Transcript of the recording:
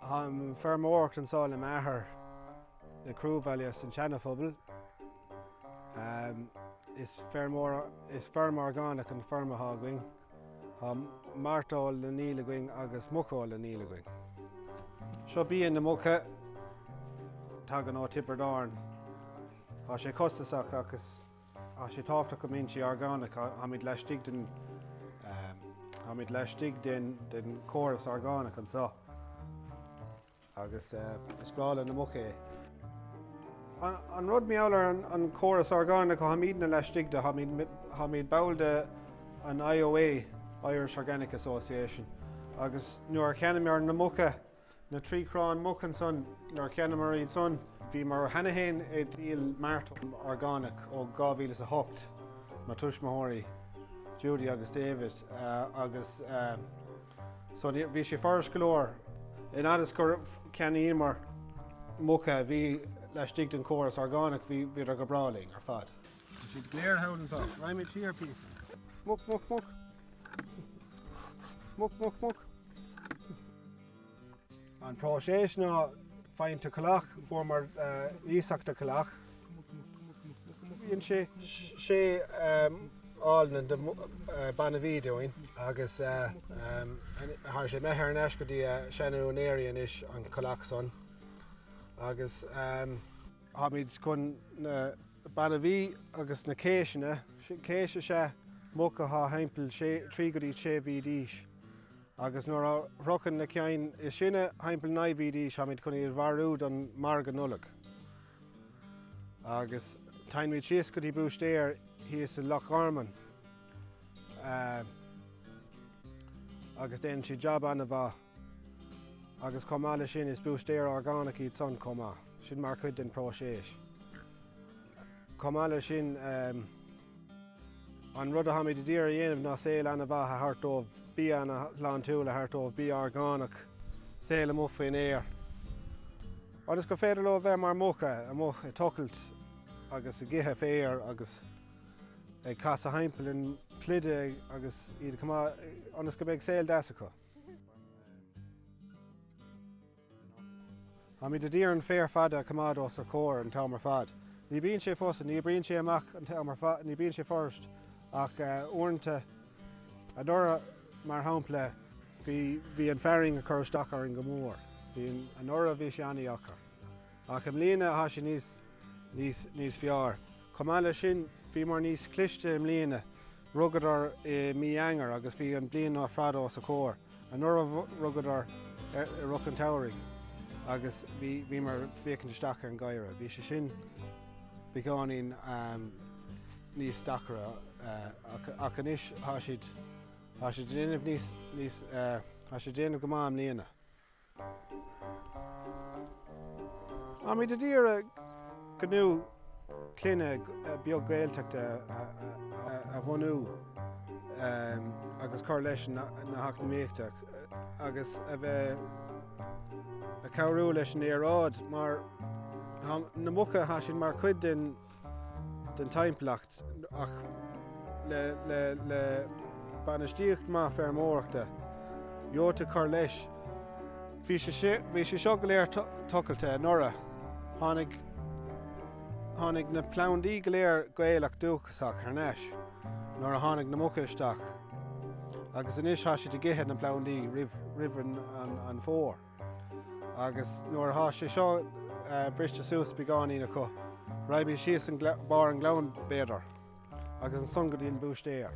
Táim ag feirmeoireacht anso le m'athair i gCruabhaile san seana phobal. Is is feirm orgánach an feirm atá againn. Tá mairteoil á ndíol againn agus muiceoil á ndíol againn. Seo bia na muca. Tagann ó Tiobraid Árann. Tá sé costasach ach is. Tá sé tábhachtach go mbíonn sé orgánach, táimid laistigh den, táimid laistigh den, den córas orgánach anseo agus is breá le na muca é. An, an rud mar gheall ar an, an córas orgánach, táimidne laistigh de, táimid, táimid ball de an IOA, Irish Organic Association, agus nuair a cheannaíomar na muca, Na trí cráin muca ansan, nuair cheannaíomar iad san. Bhíomar cheana féin ag díol mairteoil orgánach ó 2008, mo thuismitheoirí, Judy agus David, agus so bhí sé furaist go leor. In fhad is gur cheannaíomar muca a bhí laistigh den chóras orgánach, bhíodar go breá linn ar fad. Tá siad go léir thall anseo. Raghaimid siar píosa. Muc, muc, muc. Muc, muc, muc. An próiseas ná faigheann tú collach, fuaireamar iasacht de chollach. Bíonn sé. sé ál nua de bainbhí dúinn agus tá sé imithe thar n-ais go dtí a seana-úinéirí anois an collach san agus. Táimid chun na bainbhí agus na céiseanna, céis is ea muc athá thimpeall trí go dtí sé mhí d'aois, agus nuair a shroicheann na cinn is sine thimpeall naoi mhí d'aois táimid chun iad a mharú don margadh Nollag. Agus téann muid síos go dtí búistéir thíos i Loch Garman agus déanann siad jab an-mhaith. Agus chomh maith le sin, is búistéir orgánach iad san chomh maith. Sin mar chuid den próiseas. Chomh maith le sin, an rud a tháimid a d'iarraidh a dhéanamh ná saol ana mhaith a thabhairt dóibh, bia ana shláintiúil a thabhairt dóibh, bia orgánach, saol amuigh faoin aer. Ionas gur féidir leo a bheith mar muca, amuigh ag tochailt agus ag ithe féir agus ag casadh thimpeall an pluide agus iad chomh maith ionas go mbeidh saol deas acu. Táimid a d'iarraidh an féar fada a choimeád os a chomhair an t-am ar fad. Ní bíonn sé fusa, ní oibríonn sé amach an t-am ar fad, ní bíonn sé furaist ach uaireanta. Anuraidh, mar shampla, bhí bhí an fearthainn ag cur isteach orainn go mór. Bhí anuraidh bhí sé an-deacair. Ach i mbliana tá sé níos níos níos fearr. Chomh maith leis sin, bhíomar níos cliste i mbliana Rugadar i mí Eanáir agus bhí an bliain ar fad os a comhair. Anuraidh rugadar i rith an tsamhraidh agus bhíomar ag féachaint isteach ar an geimhreadh. Bhí sé sin beagáinín níos deacra ach anois thá siad ag déanamh go maith i mbliana. Táimid a d'iarraidh gnó clainne beag Gaeltachta a bhunú agus cur leis na heacnamaíochta agus a bheith ag cabhrú leis an aeráid mar na muca thá siad mar chuid den den timpeallacht ach le bainistíocht maith feirmeoireachta gheobhtá cur leis. Bhí sé seo go léir tochailte anuraidh. Tháinig na plandaí go léir Gaelach dúchasach thar n-ais nuair a tháinig na muca isteach agus anois tá siad ag ithe na bplandaí roimh an fómhar. agus nuair a thá sé seo briste suas beagáinín acu, raghaimid síos an barr an gleann, b'fhéidir, agus ansan go dtí an búistéar.